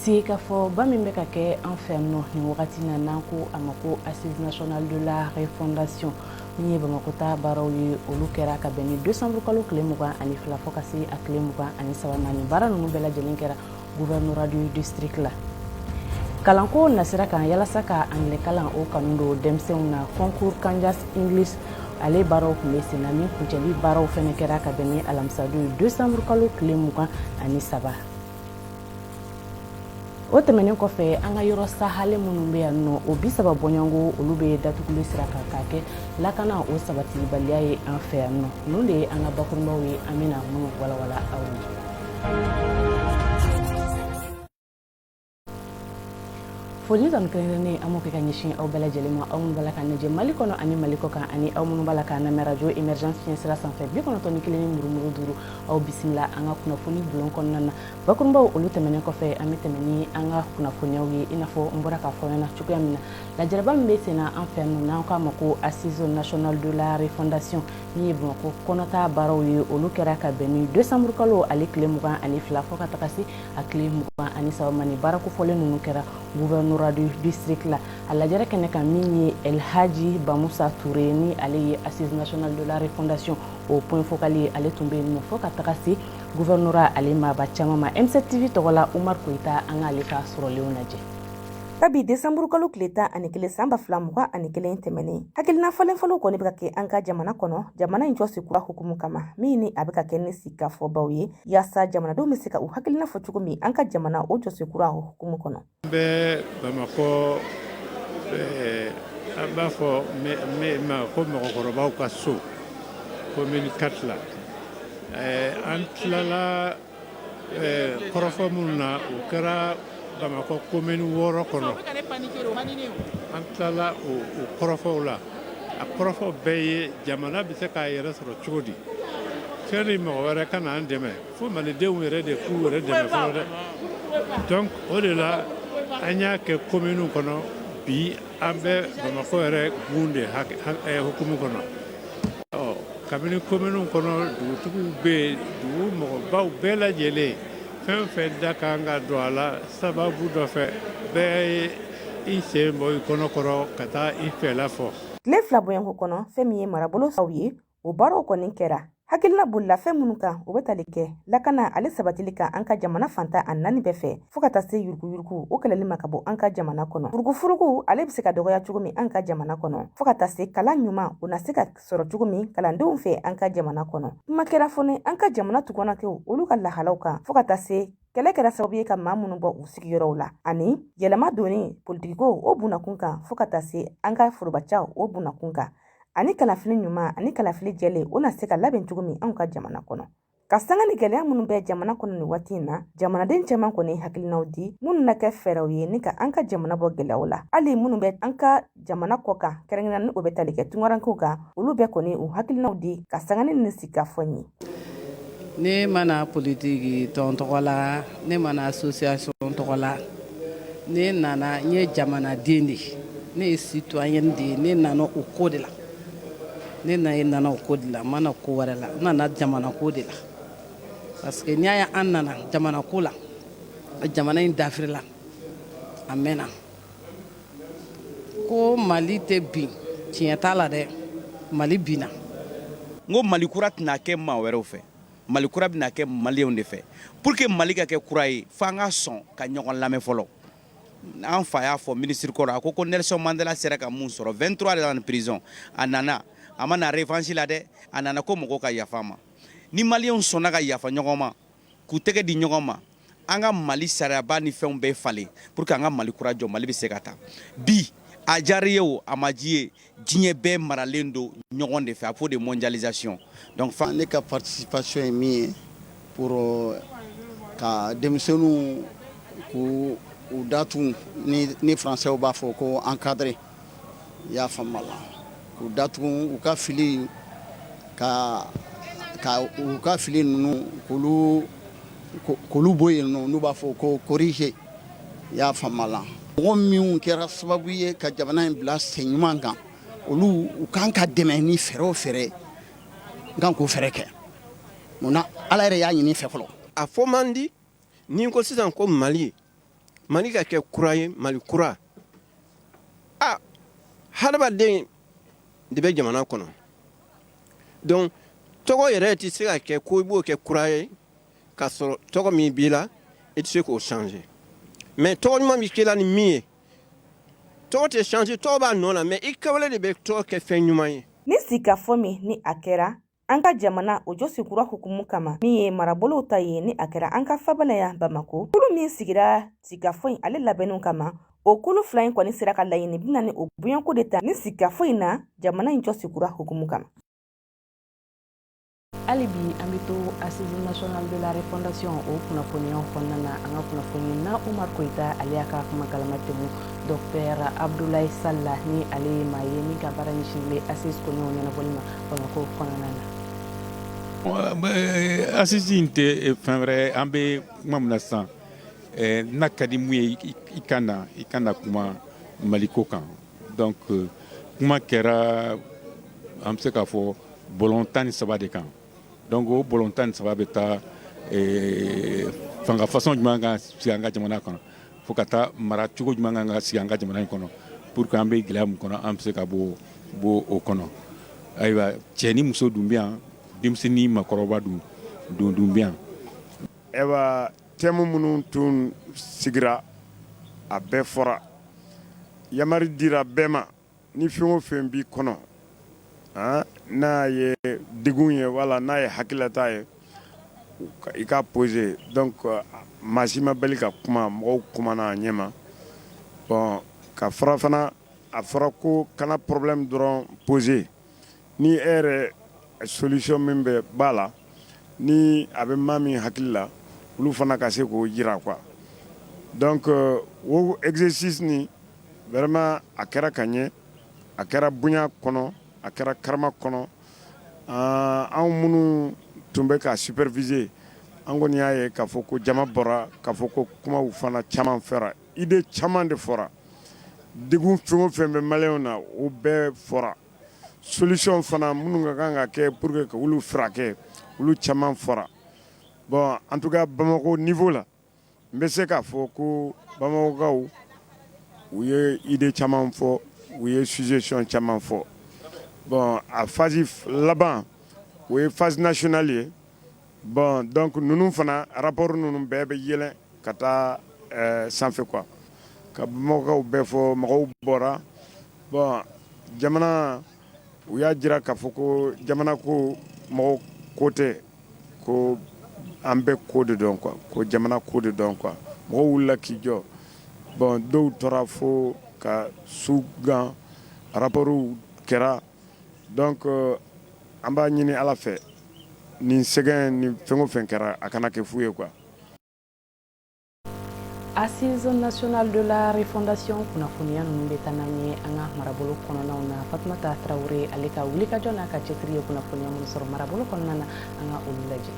sigikafɔba min bɛ ka kɛ an fɛ yan nɔ nin wagati na n'an ko a ma ko assise nationale de la refondation min ye bamakɔ ta baaraw ye olu kɛra ka bɛn ni décembre kalo tile mugan ani fila fo ka se a tile mugan ani saba ma ni baara ninnu bɛɛ lajɛlen kɛra gouvernorat du district la kalanko nasira kan yalasa ka anglais kalan o kanu don denmisɛnw na concours kanjas english ale baaraw tun bɛ senna min kuncɛli baaraw fɛnɛ kɛra ka bɛn ni alamisadon ye desanburu kalo tile mugan ani saba o tɛmɛnen kɔfɛ an ka yɔrɔ sahale minnu bɛ yan nɔ o bi saba bɔɲɔgɔnko olu bɛ datuguli sira kan k'a kɛ lakana o sabatibaliya ye an fɛ yan nɔ ninnu de ye an ka bakurunbaw ye an bɛna minnu walawala aw ye foli dɔn kɛrɛnkɛrɛnnen an b'o kɛ ka ɲɛsin aw bɛɛ lajɛlen ma aw minnu b'a la k'an lajɛ mali kɔnɔ ani mali kɔ kan ani aw minnu b'a la k'an lamɛn rajo émergence fiɲɛ sira sanfɛ bi kɔnɔntɔn ni kelen ni murumuru duuru aw bisimila an ka kunnafoni bulon kɔnɔna na bakurubaw olu tɛmɛnen kɔfɛ an bɛ tɛmɛ ni an ka kunnafoniyaw ye i n'a fɔ n bɔra k'a fɔ ɲɛna cogoya min na lajɛrɛba min bɛ senna an fɛ yan nɔ n'an k'a ma ko assise nationale de la refondation min ye bamakɔ kɔnɔta baaraw ye olu kɛra ka bɛn ni desanburukalo ale tile mugan ani fila fo ka taga se a tile mugan ani saba ma ni baarakofɔlen ninnu kɛra gouvernorat du district la a lajɛrɛ kɛnɛ kan min ye el hadji bamusa ture ni ale ye assise nationale de la refondation o point focal ye ale tun bɛ yen nɔ fo ka taga se gouverneur ale maaba caman ma M7 TV tɔgɔ la umar koyita an k'ale ka sɔrɔlenw lajɛ kabi desanburukalo tile tan ani kelen san ba fila mugan ani kelen tɛmɛnen hakilina falenfalenw kɔni bɛ ka kɛ an ka jamana kɔnɔ jamana in jɔsen kura hukumu kama min ni a bɛ ka kɛ ni sigikafɔbaw ye yaasa jamanadenw bɛ se ka u hakilina fɔ cogo min an ka jamana o jɔsen kura hukumu kɔnɔ bɛ bamakɔ an b'a fɔ ma ko mɔgɔkɔrɔbaw ka so komini quatre la an tilala kɔrɔfɔ minnu na o kɛra bamakɔ komini wɔɔrɔ kɔnɔ an tilala o kɔrɔfɔw la a kɔrɔfɔ bɛɛ ye jamana bɛ se k'a yɛrɛ sɔrɔ cogo di sanni mɔgɔ wɛrɛ ka na an dɛmɛ fo malidenw yɛrɛ de k'u yɛrɛ dɛmɛ fɔlɔ dɛ donc o de la an y'a kɛ kominiw kɔnɔ bi an bɛ bamakɔ yɛrɛ gun de hukumu kɔnɔ kabini komini kɔnɔ dugutigiw bɛ yen dugu mɔgɔbaw bɛɛ lajɛlen fɛn o fɛn da kan ka don a la sababu dɔ fɛ bɛɛ ye i sen bɔ i kɔnɔ kɔrɔ ka taa i fɛla fɔ tile fila bɔɲɔgɔnko kɔnɔ fɛn min ye marabolo saw ye o baaraw kɔni kɛra hakilina bolila fɛn minnu kan o bɛ tali kɛ lakana ale sabatili kan an ka jamana fan tan ni naani bɛɛ fɛ fɔɔ ka taa se yuruguyurugu o kɛlɛli ma ka bɔ an ka jamana kɔnɔ furugufurugu ale be se ka dɔgɔya cogo min an ka jamana kɔnɔ fɔɔ ka taa se kalan ɲuman o na se ka sɔrɔ cogo min kalandenw fɛ an ka jamana kɔnɔ kuma kɛra fɔnɛ an ka jamana tungarankew olu ka lahalaw kan fɔɔ ka taa se kɛlɛ kɛra sababu ye ka maa minnu bɔ u sigiyɔrɔw la ani yɛlɛma donni politikiko o bunakun kan fɔɔ ka taa se an ka forobacaw o bunakun kan ani kalafili ɲuman ani kalafili jɛlen o na se ka labɛn cogo min anw ka jamana kɔnɔ ka sanga ni gɛlɛya minnu bɛ jamana kɔnɔ nin waati in na jamanaden caman kɔni hakilinaw di minnu na kɛ fɛɛrɛw ye ni ka an ka jamana bɔ gɛlɛyaw la hali minnu bɛ an ka jamana kɔ kan kɛrɛnkɛrɛnnen ni o bɛ tali kɛ tungarankew kan olu bɛɛ kɔni u hakilinaw di ka sanga ni nin sigikafɔ ye ne ma na politiki tɔn tɔgɔ la ne ma na association tɔgɔ la ne nana n ye jamanaden de ye ne ye citoyen de ye ne nana o ko de la ne na e nana o ko de la n ma na ko wɛrɛ la n nana jamana ko de la parce que n'i y'a ye an nana jamana ko la jamana in dafirila a mɛnna ko mali tɛ bin tiɲɛ t'a la dɛ mali binna n ko mali kura tɛna kɛ maa wɛrɛw fɛ mali kura bɛna kɛ maliyɛnw de fɛ pour que mali ka kɛ kura ye fo an ka sɔn ka ɲɔgɔn lamɛn fɔlɔ an fa y'a fɔ minisiri kɔrɔ a ko ko nelson mandela sera ka mun sɔrɔ 23 ans de prison a nana a ma na revanche la dɛ a nana ko mɔgɔw ka yafa ma ni maliyɛnw sɔnna ka yafa ɲɔgɔn ma k'u tɛgɛ di ɲɔgɔn ma an ka mali sariyaba ni fɛnw bɛɛ falen pour que an ka mali kura jɔ mali bɛ se ka taa bi a diyara i ye o a ma diya i ye diɲɛ bɛɛ maralen don ɲɔgɔn de fɛ a fɔ de mondialisation donc fa ne ka participation ye min ye pour euh, ka denmisɛnninw k'u u datugu ni ni françaisw b'a fɔ ko encadrer i y'a faamu la k'u datugu u ka fili ka ka u ka fili ninnu k'olu k'olu bɔ yen nɔ n'u b'a fɔ ko corriger i y'a faamu la mɔgɔ minnu kɛra sababu ye ka jamana in bila sen ɲuman kan olu u kan ka dɛmɛ ni fɛɛrɛ o fɛɛrɛ n kan k'o fɛɛrɛ kɛ munna ala yɛrɛ y'a ɲini fɛ fɔlɔ a fɔ man di ni n ko sisan ko mali mali ka kɛ kura ye mali kura a hadamaden de bɛ jamana kɔnɔ donc tɔgɔ yɛrɛ tɛ se ka kɛ ko i b'o kɛ kura ye k'a sɔrɔ tɔgɔ min b'i la i tɛ se k'o changer mais tɔgɔ ɲuman bɛ k'i la ni min ye tɔgɔ tɛ changer tɔgɔ b'a nɔ la mais i kɛwale de bɛ tɔgɔ kɛ fɛn ɲuman ye. ni sigikafɔ min ni a kɛra an ka jamana o jɔsen kura hukumu kama min ye marabolow ta ye ni a kɛra an ka faaba la yan bamako kulu min sigira sigikafɔ in ale labɛnniw kama o kulu fila in kɔni sera ka laɲini binaani o bɔɲɔgɔnko de ta ni sigikafɔ in na jamana in jɔsen kura hukumu kama hali bi an bɛ to assise nationale de la refondation o kunnafoniyaw kɔnɔna na an ka kunnafonina umar koyita ale y'a ka kuma galama tɛmɛ docteur abdoulaye sall la ni ale ye maa ye min ka baara ɲɛsinnen bɛ assise koɲɛw ɲɛnabɔli ma bamakɔ kɔnɔna na assise in tɛ fɛn wɛrɛ an bɛ kuma min na sisan n'a ka di min ye i ka na i ka na kuma maliko kan Donc euh, kuma kɛra an bɛ se k'a fɔ bɔlɔn tan ni saba de kan donc o bɔlɔn tan ni saba bɛ taa eh, fanga façon jumɛn ka sigi an ka jamana kɔnɔ fo ka taa mara cogo jumɛn kan ka sigi an ka jamana in kɔnɔ pour que an bɛ gɛlɛya min kɔnɔ an bɛ se ka bɔ o kɔnɔ ayiwa cɛ ni muso dun bɛ yan denmisɛn ni makɔrɔba dun bɛ yan. Ayiwa thème minnu tun sigira a bɛɛ fɔra yamari dira bɛɛ ma ni fɛn o fɛn b'i kɔnɔ n'a ye degun ye wala n'a ye hakililata ye i k'a poser donc maa si ma bali ka kuma mɔgɔw kumana a ɲɛ ma bon ka fara fana a fɔra ko kana problème dɔrɔn poser ni e yɛrɛ solution min bɛ b'a la ni a bɛ maa min hakili la olu fana ka se k'o jira quoi donc o exercice in vraiment a kɛra ka ɲɛ a kɛra bonya kɔnɔ a kɛra karama kɔnɔ anw minnu tun bɛ k'a superviser an kɔni y'a ye k'a fɔ ko jama bɔra k'a fɔ ko kumaw fana caman fɔra Idée caman de fɔra degun fɛn o fɛn bɛ maliyɛnw na o bɛɛ fɔra solution fana minnu ka kan ka kɛ pour que ka olu furakɛ olu caman fɔra bon en tout cas bamakɔ niveau la n bɛ se k'a fɔ ko bamakɔkaw u ye idée caman fɔ u ye suggestion caman fɔ bon a phase laban o ye phase nationale ye Bon donc ninnu fana rapport ninnu bɛɛ bɛ yɛlɛn ka taa sanfɛ quoi ka bamakɔkaw bɛɛ fo mɔgɔw bɔra bon jamana u y'a jira k'a fɔ ko jamana ko mɔgɔ ko tɛ ko an bɛɛ ko de don quoi ko jamana ko de don quoi mɔgɔw wulila k'i jɔ bon dɔw tora fo ka su gan rapportw kɛra donc an b'a ɲini ala fɛ Nin sɛgɛn ni fɛn o fɛn kɛra a kana kɛ fu ye quoi assise nationale de la refondation kunnafoniya ninnu bɛ taa n'an ye an ka marabolo kɔnɔnaw na fatumata tarawele ale ka wulikajɔ n'a ka cɛsiri ye kunnafoniya minnu sɔrɔ marabolo kɔnɔna na an ka olu lajɛ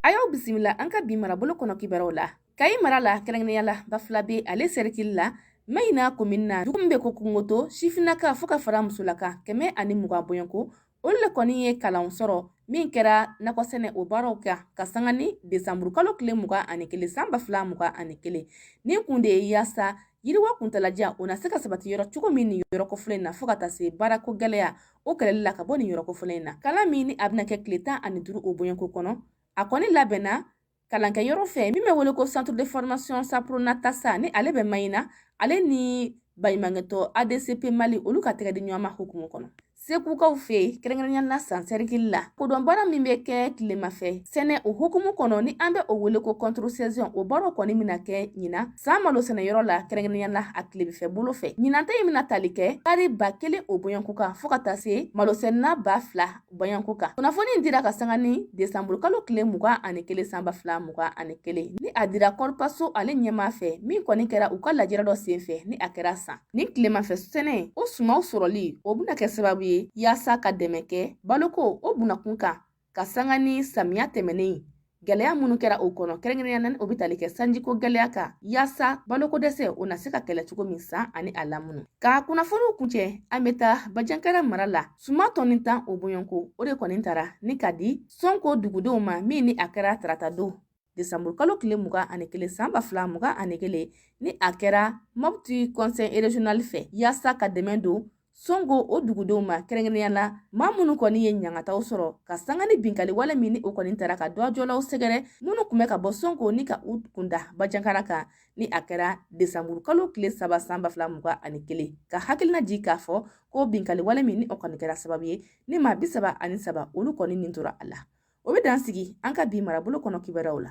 a y'aw bisimila an ka bi marabolo kɔnɔ kibaruw la kayi mara la kɛrɛnkɛrɛnnenya la bafulabɛ ale serikili la mayina komini na dugu min bɛ ko kungogoto sifinnaka fo ka fara musolaka kɛmɛ ani mugan bɔ ko olu le kɔni ye kalan sɔrɔ min kɛra nakɔsɛnɛ o baaraw kan ka sanga ni desanburukalo tile mugan ani kelen san ba fila mugan ani kelen nin kun de ye yaasa yiriwa kuntalajan o na se ka sabati yɔrɔ cogo min nin yɔrɔ kofɔlen in na fɔɔ ka taa se baarako gwɛlɛya o kɛlɛli la ka bɔ nin yɔrɔ kofɔlen in na kalan min ni a bɛna kɛ tile tan ani duru o bɔɲɔnko kɔnɔ a kɔni labɛnna kalankɛ yɔrɔ fɛ min bɛ wele ko centre de formation sapronata sa ni ale bɛ mayina ale ni baɲumankɛtɔn adcp mali olu ka tɛgɛ di ɲɔgɔn ma hukumu kɔnɔ segukaw fɛ kɛrɛnkɛrɛnya la san sɛrikili la kodɔn baara min bɛ kɛ tilema fɛ sɛnɛ o hukumu kɔnɔ ni an bɛ o wele ko contre saison o baaraw kɔni mina kɛ ɲinan san malo sɛnɛyɔrɔ la kɛrɛnkɛrɛnya la a tilebinfɛ bolo fɛ ɲinanta in mina tali kɛ taari ba kelen o bɔɲɔnko kan fɔɔ ka taa se malosɛnɛna ba fila Bɔɲɔgɔnko kan kunnafoni in dira ka sanga ni desanburukalo tile mugan ani kelen san ba fila mugan ani kelen ni a dira corpaso ale ɲɛmaa fɛ min kɔni kɛra u ka lajɛrɛ dɔ senfɛ ni a kɛra san ni tilemafɛ sɛnɛ o sumanw sɔrɔli o bɛna kɛ sababu ye yaasa ka dɛmɛ kɛ baloko o bunakun kan ka sanga ni samiya tɛmɛnen Gɛlɛya minnu kɛra o kɔnɔ kɛrɛnkɛrɛnya na ni o bɛ tali kɛ sanjiko gɛlɛya kan yaasa baloko dɛsɛ o na se ka kɛlɛ cogo min san ani a lamunu ka kunnafoniw kuncɛ an bɛ taa bajankara mara la suman tɔni tan o bɔɲɔnko o de kɔni tara ni ka di songo dugudenw ma min ni a kɛra tarata don desanburu kalo tile mugan ani kelen san ba fila mugan ani kelen ni a kɛra mɔputi conseil régional fɛ yaasa ka dɛmɛ don songo o dugudenw ma kɛrɛnkɛrɛnya la maa minnu kɔni ye ɲangataw sɔrɔ ka sanga ni binkali wale min ni o kɔni taara ka dɔgɔjɔlaw sɛgɛrɛ minnu kun bɛ ka bɔ songo ni ka u kunda bajankara kan ni a kɛra desanburu kalo tile saba san ba fila mugan ani kelen ka hakilina jigi k'a fɔ ko binkali wale min ni o kɔni kɛra sababu ye ni maa bi saba ani saba olu kɔni nin tora a la o bɛ dan sigi an ka bi marabolo kɔnɔ kibaruyaw la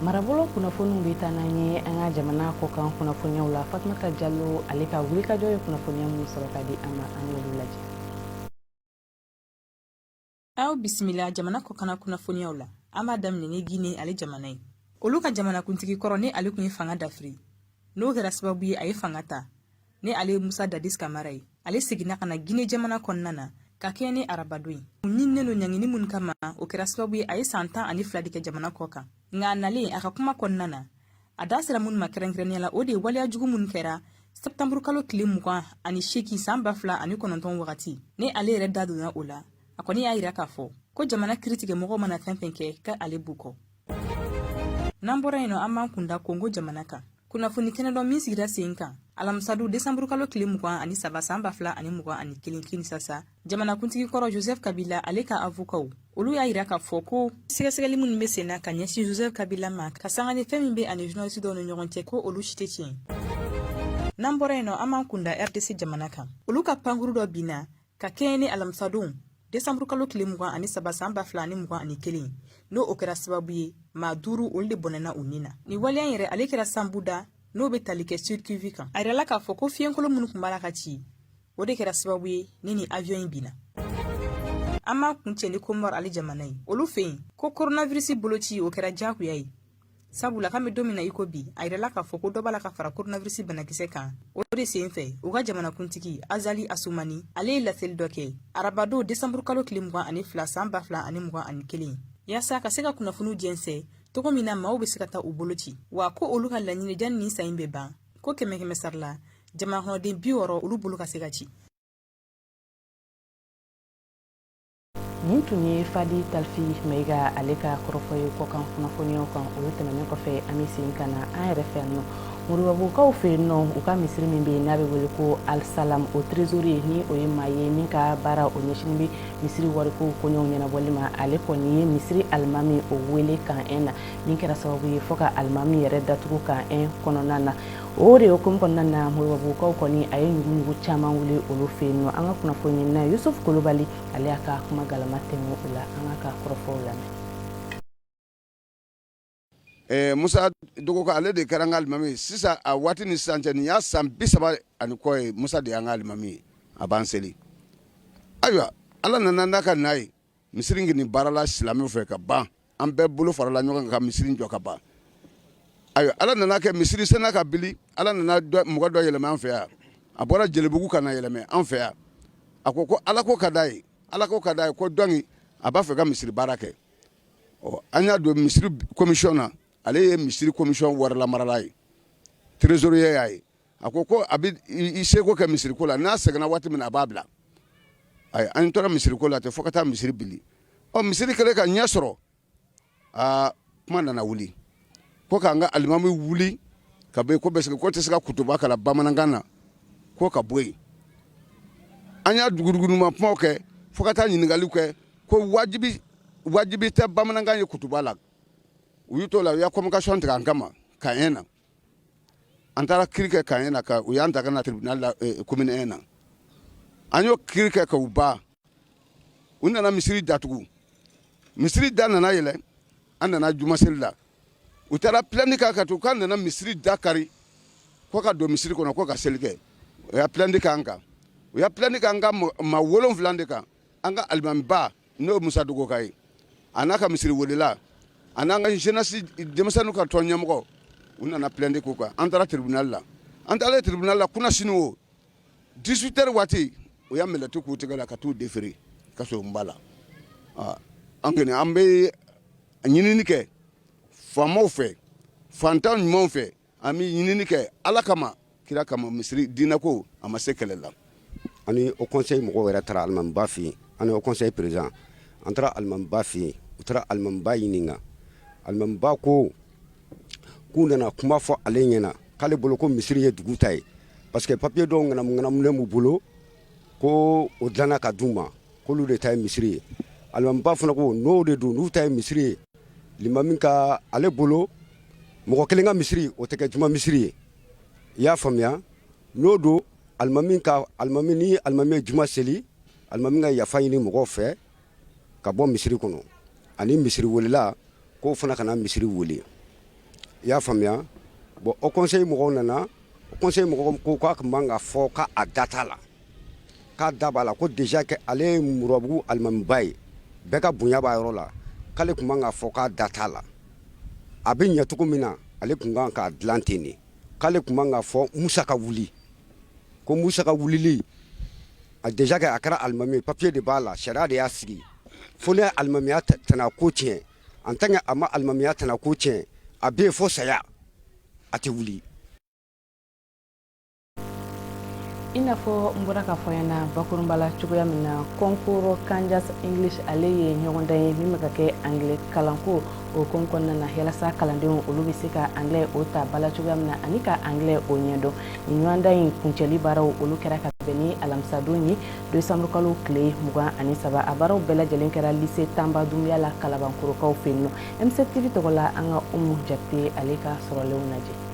marabolo kunnafoniw bɛ taa n'an ye an ka jamana kɔkan kunnafoniyaw la fatumata jalo ale ka wulikajɔ ye kunnafoniya minnu sɔrɔ ka di an ma an y'olu lajɛ aw bisimila jamana kɔkana kunnafoniyaw la an b'a daminɛ ni gine ale jamana ye olu ka jamanakuntigi kɔrɔ ni ale tun ye fanga dafiri n'o kɛra sababu ye a ye fanga ta ni ale ye musa dadis kamara ye ale seginna ka na gine jamana kɔnɔna na ka kɛɲɛ ni arabadon ye u ɲininen don ɲangini minnu kama o kɛra sababu ye a ye saan tan ani fila de kɛ jamana kɔ kan nka a nalen a ka kuma kɔnɔna na a da sera minnu ma kɛrɛnkɛrɛnnenya la o de ye waleya jugu minnu kɛra sɛptanburukalo tile mugan ani seegin saan ba fila ani kɔnɔntɔn wagati ni ale yɛrɛ da donna o la a kɔni y'a yira k'a fɔ ko jamana kiritigɛmɔgɔw mana fɛn fɛn kɛ k'ale b'u kɔ N'an bɔra yen nɔ an b'an kunda kongo jamana kan kunnafoni kɛnɛ dɔ min sigira sen kan alamisadon desanburukalo tile mugan ani saba san ba fila ani mugan ani kelen kinisasa jamanakuntigi kɔrɔ joseph kabila ale ka avokaw olu y'a yira k'a fɔ ko sɛgɛsɛgɛli minnu be sen na ka ɲɛsin joseph kabila ma ka sanga ni fɛn min bɛ a ni journaliste dɔw ni ɲɔgɔn cɛ ko olu si tɛ tiɲɛ n'an bɔra yen nɔ an b'an kunda rdc jamana kan olu ka pankuru dɔ binna Ka kɛɲɛ ni alamisadon desanburukalo tile mugan ani saba san ba fila ani mugan ani kelen n'o o kɛra sababu ye maa duuru olu de bɔnɛna u ni na ni waleya yɛrɛ ale kɛra shabunda n'o bɛ tali kɛ sud kivu kan a yirala k'a fɔ ko fiɲɛkolon minnu tun b'a la ka ci o de kɛra sababu ye ni nin avion in binna an b'a kun cɛ ni komɔr ale jamana ye olu fɛ yen ko coronavirisi boloci o kɛra jagoya ye sabula k'an bɛ don min na i ko bi a yirala k'a fɔ ko dɔ b'a la ka fara koronavirisi banakisɛ kan o de sen fɛ u ka jamanakuntigi azali asumani ale ye laseli dɔ kɛ arabadon desanburu kalo tile mugan ani fila san ba fila ani mugan ani kelen yaasa ka se ka kunnafoniw jɛnsɛ cogo min na maaw bɛ se ka taa u bolo ci wa ko olu ka laɲini janni nin san in bɛ ban ko kɛmɛ kɛmɛ sara la jamanakɔnɔden bi wɔɔrɔ olu bolo ka se ka ci nin tun ye fadi talifi maiga ale ka kɔrɔfɔ ye kɔkan kunnafoniyaw kan o tɛmɛnen kɔfɛ an bɛ segin ka na an yɛrɛ fɛ yan nɔ moribabugukaw fɛ yen nɔ u ka misiri min bɛ yen n'a bɛ wele ko alisalam o trezoriye ni o ye maa ye min ka baara o ɲɛsinnen bɛ misiri wariko koɲɛw ɲɛnabɔli ma ale kɔni ye misiri alimami o wele camp un na min kɛra sababu ye fɔ ka alimami yɛrɛ datugu camp un kɔnɔna na o de hukumu kɔnɔna na moribabugukaw kɔni a ye ɲuguɲugu caman wuli olu fɛ yen nɔ an ka kunnafoni ɲinina yusuf kulibali ale y'a ka kuma galama tɛmɛ u la an k'u ka kɔrɔfɔw lamɛn musa dɔgɔ ale de kɛra an ka alimami sisan a waati ni sisan cɛ nin y'a san bi saba ani kɔ ye musa de y'an ka alimami a b'an seli ayiwa ala nana n'a ka n'a ye misiri in kɔni baarala silamɛw fɛ ka ban an bɛɛ bolo farala ɲɔgɔn kan ka misiri in jɔ ka ban ayiwa Ala nana kɛ misiri sela ka bili Ala nana dɔ mɔgɔ dɔ yɛlɛma an fɛ yan a bɔra Jelibugu ka na yɛlɛma an fɛ yan a ko ko Ala ko ka d'a ye Ala ko ka d'a ye ko dɔnki a b'a fɛ ka misiri baara kɛ ɔ an y'a don misiri commission na ale ye misiri commission warilamarala ye trésorier y'a ye a ko ko a bɛ i seko kɛ misiri ko la n'a sɛgɛnna waati min na a b'a bila ayi an tora misiri ko la ten fo ka taa misiri bili ɔ misiri kɛlen ka ɲɛ sɔrɔ aa kuma nana wuli ko k'an ka alimami wuli ka bɔ yen ko parce que k'o tɛ se ka kutuba kalan bamanankan na ko ka bɔ yen an y'a duguduguma kumaw kɛ fo ka taa ɲininkaliw kɛ ko wajibi wajibi tɛ bamanankan ye kutuba la u y'u t'o la u y'a convocation tigɛ an kama camp un na an taara kiri kɛ camp un na u y'an ta ka na tribunal la commune un na an y'o kiri kɛ k'o ban u nana misiri datugu misiri da nana yɛlɛ an nana juma seli la u taara plainte k'an kan k'an nana misiri da kari ko ka don misiri kɔnɔ ko ka seli kɛ u y'a plainte k'an kan u y'a plainte k'an ka maa wolonwula de kan an ka alimamiba N'o ye Musa Dogoka ye a n'a ka misiri welela a n'an ka jeunesse denmisɛnninw ka tɔn ɲɛmɔgɔ u nana plainte k'u kan an taara tribunal la an taalen tribunal la kunasini o 18 heures waati u ye mɛlɛti k'u tɛgɛ la ka t'u déférer kasobonba la aa an kɔni an bɛ ɲinini kɛ faamaw fɛ faantan ɲumanw fɛ An bɛ ɲinini kɛ ala kama kira kama misiri diinɛ ko a ma se kɛlɛ la ani Haut Conseil mɔgɔw yɛrɛ taara alimamiba fɛ yen ani Haut Conseil président taara alimamiba fɛ yen u taara alimamiba ɲininka alimamiba ko k'u nana kuma fɔ ale ɲɛna k'ale bolo ko misiri ye dugu ta ye parce que papiye dɔw ŋanamuŋanamunen b'u bolo ko o dilanna ka d'u ma k'olu de ta ye misiri ye alimamiba fana ko n'o de don n'u ta ye misiri ye limami ka ale bolo mɔgɔ kelen ka misiri o tɛ kɛ juma misiri ye i y'a faamuya n'o don alimami ka a ni alimami ye juma seli alimami ka yafa ɲini mɔgɔw fɛ ka bɔ misiri kɔnɔ ani misiri welela k'o fana kana misiri wele i y'a faamuya bon Haut Conseil mɔgɔw nana Conseil mɔgɔw ko k'a tun man ka fɔ k'a da t'a la k'a da b'a la ko déjà que ale ye murabugu alimamiba ye bɛɛ ka bonya b'a yɔrɔ la k'ale tun man ka fɔ k'a da t'a la a bɛ ɲɛ cogo min na ale tun kan k'a dilan ten de k'ale tun man ka fɔ musa ka wuli ko musa ka wulili a déjà que a kɛra alimami papiye de b'a la sariya de y'a sigi fo n'a ye alimamiya tana ko tiɲɛ en tant que a ma alimamiya tana ko tiɲɛ a bɛ yen fo saya a tɛ wuli i n'a fɔ n bɔra k'a fɔ aw ɲɛna bakurunba la cogoya min na concours Kandias English ale ye ɲɔgɔndan ye min bɛ ka kɛ anglais kalanko o ko kɔnɔna na yalasa kalandenw olu bɛ se ka anglais o ta bala cogoya min na ani ka anglais o ɲɛdɔn nin ɲɔgɔndan in kuncɛli baaraw olu kɛra ka bɛn ni alamisadon ye décembre kalo tile mugan ani saba a baaraw bɛɛ lajɛlen kɛra lycée Tamba Dumbuya la kalabankorokaw fɛ yen nɔ M7 TV tɔgɔ la an ka Umu Jakite ale ka sɔrɔlenw lajɛ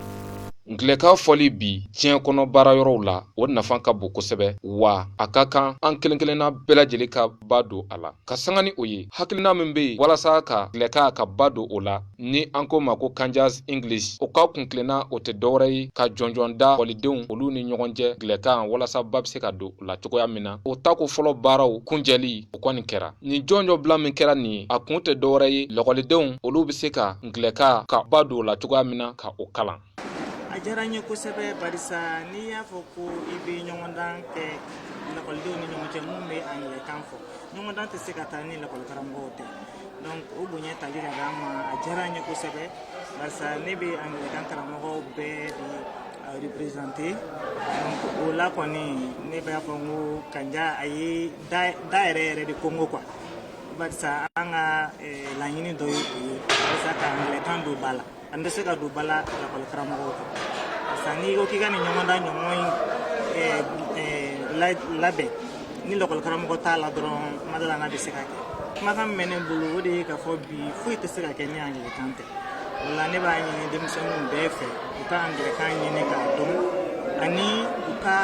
angilɛkan fɔli bi diɲɛ kɔnɔ baara yɔrɔw la o nafa ka bon kosɛbɛ wa a ka kan an kelen kelenna bɛɛ lajɛlen ka ba don a la ka sanga ni o ye hakilina min bɛ yen walasa ka angilɛkan ka ba don o la ni an k'o ma ko Kandias English o ka kuntilenna o tɛ dɔwɛrɛ ye ka jɔnjɔn da lakɔlidenw olu ni ɲɔgɔn cɛ angilɛkan walasa ba bɛ se ka don o la cogoya min na o tako fɔlɔ baaraw kuncɛli o kɔni kɛra nin jɔnjɔn bila min kɛra nin ye a kun tɛ dɔwɛrɛ ye lakɔlidenw olu bɛ se ka angilɛkan ka ba don o la cogoya min na ka o kalan a diyara n ye kosɛbɛ barisa n'i y'a fɔ ko i bɛ ɲɔgɔndan kɛ lakɔlidenw ni ɲɔgɔn cɛ minnu bɛ angilɛkan fɔ ɲɔgɔndan tɛ se ka taa ni lakɔlikaramɔgɔw tɛ donc o bonya tali ka d'an ma a diyara n ye kosɛbɛ barisa ne bɛ angilɛkan karamɔgɔw bɛɛ de représenter donc o la kɔni ne b'a fɔ n ko kanja a ye da yɛrɛ yɛrɛ de konkon quoi barisa an ka laɲini dɔ ye o ye walisa ka angilɛkan don ba la an tɛ se k'a don ba la lakɔli karamɔgɔw kɔ parce que n'i ko k'i ka nin ɲɔgɔndan ɲɔgɔn in eh, eh, labɛn ni lakɔli karamɔgɔ t'a la dɔrɔn n ma da a la n'a bɛ se ka kɛ kumakan min bɛ ne bolo o de ye k'a fɔ bi foyi tɛ se ka kɛ ni angilɛkan tɛ o la ne b'a ɲini denmisɛnninw bɛɛ fɛ u ka angilɛkan ɲini k'a dɔn ani u ka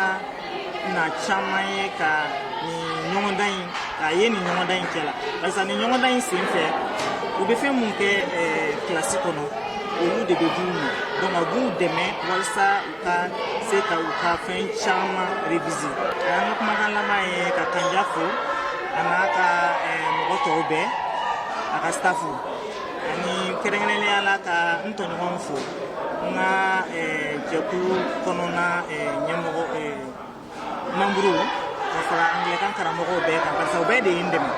na caman ye ka nin ɲɔgɔndan in k'a ye nin ɲɔgɔndan in kɛla parce que nin ɲɔgɔndan in sen fɛ u bɛ fɛn min kɛ kilasi kɔnɔ olu de bɛ d'u ma donc a b'u dɛmɛ walisa u ka se ka u ka fɛn caman réviser an ka kumakan laban ye ka kanja fo a n'a ka mɔgɔ tɔw bɛɛ a ka staff ani kɛrɛnkɛrɛnnenya la ka n tɔɲɔgɔnw fo n ka jɛkulu kɔnɔna ɲɛmɔgɔ manburu ka fara angilɛkan karamɔgɔw bɛɛ kan barisa u bɛɛ de ye n dɛmɛ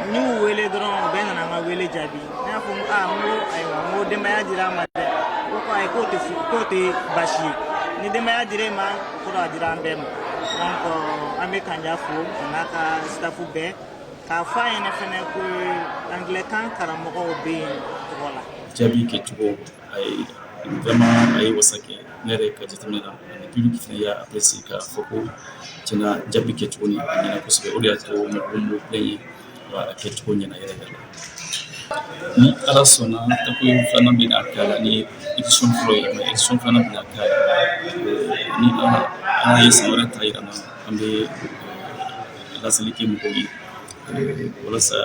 n y'u wele dɔrɔn u bɛɛ nana n ka wele jaabi ne y'a fɔ n ko aa n ko ayiwa n ko denbaya dira n ma dɛ ko ko ayi k'o tɛ k'o tɛ baasi ye ni denbaya dira e ma ko a dira an bɛɛ ma donc an bɛ kanja fo a n'a ka staff bɛɛ k'a fɔ a ɲɛna fana ko angilɛkan karamɔgɔw bɛ yen tɔgɔ la jaabi kɛcogo a ye vraiment a ye wasa kɛ ne yɛrɛ ka jateminɛ na ani public fana y'a apprécier k'a fɔ ko tiɲɛ na jaabi kɛcogo ni a ɲɛna kosɛbɛ o de y'a to mɔgɔw m'o plain ye wa a kɛcogo ɲɛna yɛrɛ yɛrɛ ni ala sɔnna tako filanan bɛna kɛ a la nin édition fɔlɔ ye mais édition filanan bɛna kɛ a la ni ala ye san wɛrɛ ta yira an na an bɛ laseli kɛ mɔgɔw ye walasa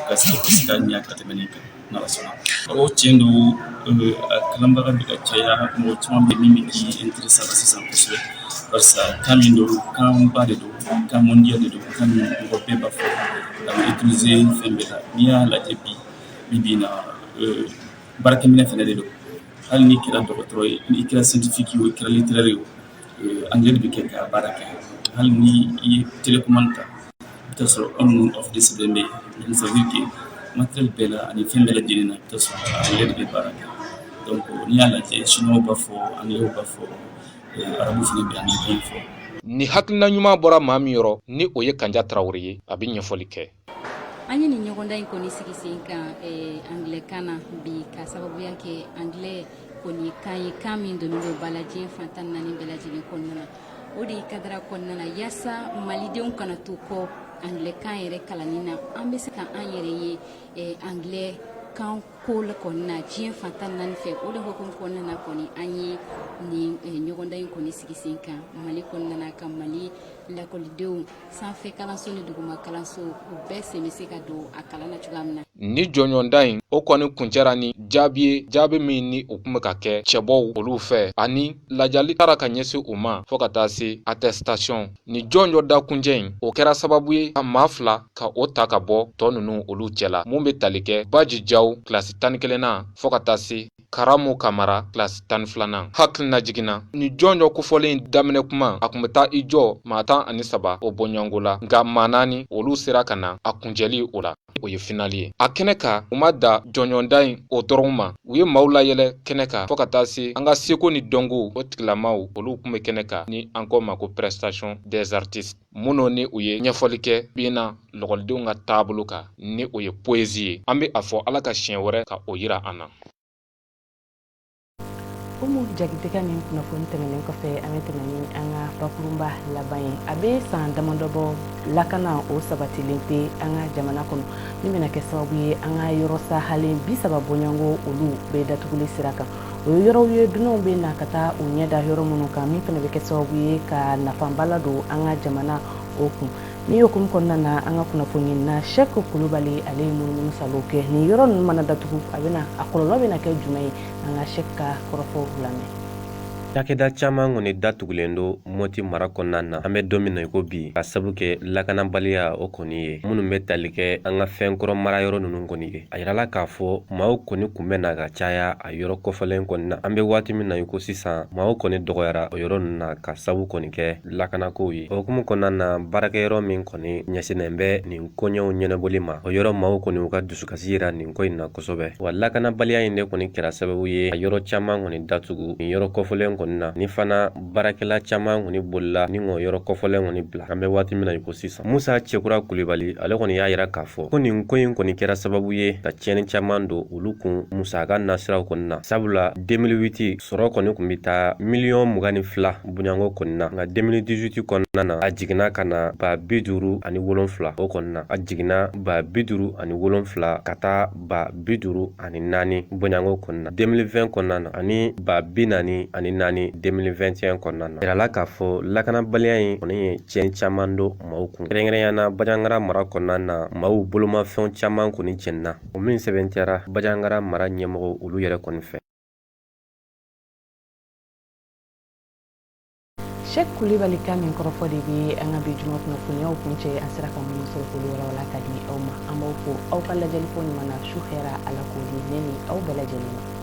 ka se ka ɲɛ ka tɛmɛ nin kan n'ala sɔnna o tiɲɛ don a kalanbaga bɛ ka caya mɔgɔ caman bɛ min bɛ k'i intéresser a la sisan kosɛbɛ barisa kan min don kanba de don kan mondial de don kan min mɔgɔ bɛɛ b'a fɔ a bɛ utiliser fɛn bɛɛ la n'i y'a lajɛ bi bi bi in na baarakɛminɛ fɛnɛ de don hali n'i kɛra dɔgɔtɔrɔ ye n'i kɛra scientifique ye i kɛra littéraire ye angilɛ de bɛ kɛ ka baara kɛ hali ni i ye télécommande ta i taa sɔrɔ on ni off de sɛbɛnnen bɛ yen ça veut dire que matériel bɛɛ la ani fɛn bɛɛ lajɛlen na i taa sɔrɔ angilɛ de bɛ baara kɛ n'i y'a lajɛ sinuwa b'a fɔ angilɛ b'a fɔ arabu fɛnɛ bɛ angilɛ fɔ nin hakilina ɲuman bɔra maa min yɔrɔ ni o ye kanja tarawele ye a bɛ ɲɛfɔli kɛ an ye nin ɲɔgɔndan in kɔni sigi sen kan eh, anglɛkan na bi ka sababuya kɛ anglɛ kɔni kan ye kan min donnen don ba la diɲɛ fan tan naani bɛɛ lajɛlen kɔnɔna na o de ye kadara kɔnɔna na yaasa malidenw kana to kɔ anglɛkan yɛrɛ kalanni na an bɛ se ka an yɛrɛ ye eh, anglɛ kan ko la kɔni na diɲɛ fan tan naani fɛ o de hukumu kɔnɔna na kɔni an ye nin eh, ɲɔgɔndan in kɔni sigi sen kan mali kɔnɔna na ka mali lakɔlidenw sanfɛ kalanso ni duguma kalanso u bɛɛ sen bɛ se ka don a kalan na cogoya min na nin jɔnjɔnta in o kɔni kuncɛra ni jaabi ye jaabi min ni u tun bɛ ka kɛ cɛbɔw olu fɛ ani ladiyali taara ka ɲɛsin u ma fɔɔ ka taa se attestation nin jɔnjɔnta kuncɛ in o kɛra sababu ye ka maa fila ka o ta ka bɔ tɔ ninnu olu cɛla mun bɛ tali kɛ baji jaw kilasi tan ni kelennan fɔɔ ka taa se Karamu Kamara kilasi tan ni filanan hakilinajigin na nin jɔnjɔn kofɔlen daminɛ kuma a kun bɛ taa i jɔ maa tan ani saba o bɔɲɔgɔnko la nka maa naani olu sera ka na a kuncɛli o la o ye finali ye a kɛnɛ kan u ma dan jɔnjɔnta in o dɔrɔn ma u ye maaw layɛlɛ kɛnɛ kan fɔɔ ka taa se an ka seko ni dɔnko o tigilamaw olu kun bɛ kɛnɛ kan ni an ko o ma ko prestation des artistes minnu ni u ye ɲɛfɔli kɛ bi in na lɔgɔlidenw ka taabolo kan ni o ye poezi ye an bɛ a fɔ ala ka siɲɛ wɛrɛ ka o yira an na umu jakite ka nin kunnafoni tɛmɛnen kɔfɛ an bɛ tɛmɛ ni an ka bakurunba laban ye a bɛ san damadɔ bɔ lakana o sabatilen tɛ an ka jamana kɔnɔ min bɛna kɛ sababu ye an ka yɔrɔ sahalen bi saba bɔɲɔgɔnko olu bɛɛ datuguli sira kan o ye yɔrɔw ye dunanw bɛ na ka taa u ɲɛ da yɔrɔ minnu kan min fana bɛ kɛ sababu ye ka nafaba ladon an ka jamana o kun nin hukumu kɔnɔna na an ka kunnafoniɲinina shɛki kulubali ale ye munumunusaalo kɛ nin yɔrɔ ninnu mana datugu a bɛ a kɔlɔlɔ bɛna kɛ jumɛn ye an ka shɛki ka kɔrɔfɔ lamɛn cakɛda caman kɔni datugulen don moti mara kɔnɔna na an bɛ don min na i ko bi ka sabu kɛ lakanabaliya o kɔni ye minnu bɛ tali kɛ an ka fɛn kɔrɔ mara yɔrɔ ninnu kɔni ye a yirala k'a fɔ maaw kɔni kun bɛ na ka caya a yɔrɔ kofɔlen kɔni na an bɛ waati min na i ko sisan maaw kɔni dɔgɔyara o yɔrɔ ninnu na ka sabu kɔni kɛ lakanakow ye o hukumu kɔnɔna na baarakɛyɔrɔ min kɔni ɲɛsinnen bɛ nin koɲɛw ɲɛnabɔli ma o yɔrɔ maaw kɔni u ka dusukasi yira nin ko in na kosɛbɛ wa lakanabaliya in de kɔni kɛra sababu ye a yɔrɔ caman kɔni datugu nin yɔrɔ kofɔlen kɔni na ni fana baarakɛla caman kɔni bolila ni o yɔrɔ kofɔlen kɔni bila an bɛ waati min na i ko sisan musa cɛkura kulibali ale kɔni y'a yira k'a fɔ ko nin ko in kɔni kɛra sababu ye ka tiɲɛni caman don olu kun musaka nasiraw kɔni na sabula 2008 sɔrɔ kɔni kun bɛ taa miliyɔn mugan ni fila bɔɲɔgɔnko kɔni na nka 2018 kɔnɔna na a jiginna ka na ba bi duuru ani wolonfila o kɔni na a jiginna ba bi duuru ani wolonfila ka taa ba bi duuru ani naani bɔɲɔgɔnko kɔni na deux mille vingt kɔnɔna na ani ba bi naani ani naani deux mille vingt et un kɔnɔna na yirala k'a fɔ lakanabaliya in kɔni ye tiɲɛ caman don maaw kun kɛrɛnkɛrɛnyana bajangara mara kɔnɔna na maaw bolomafɛnw caman kɔni cɛnna o min sɛbɛntiyara bajangara mara ɲɛmɔgɔ olu yɛrɛ kɔni fɛ Seku Kulibali ka min kɔrɔfɔ de bɛ an ka bi juma kunnafoniyaw kuncɛ an sera ka minnu sɔrɔ k'olu walawala ka di aw ma an b'aw fo aw ka lajɛli ko ɲuman na su hɛra Ala k'o di ne ni aw bɛɛ lajɛlen ma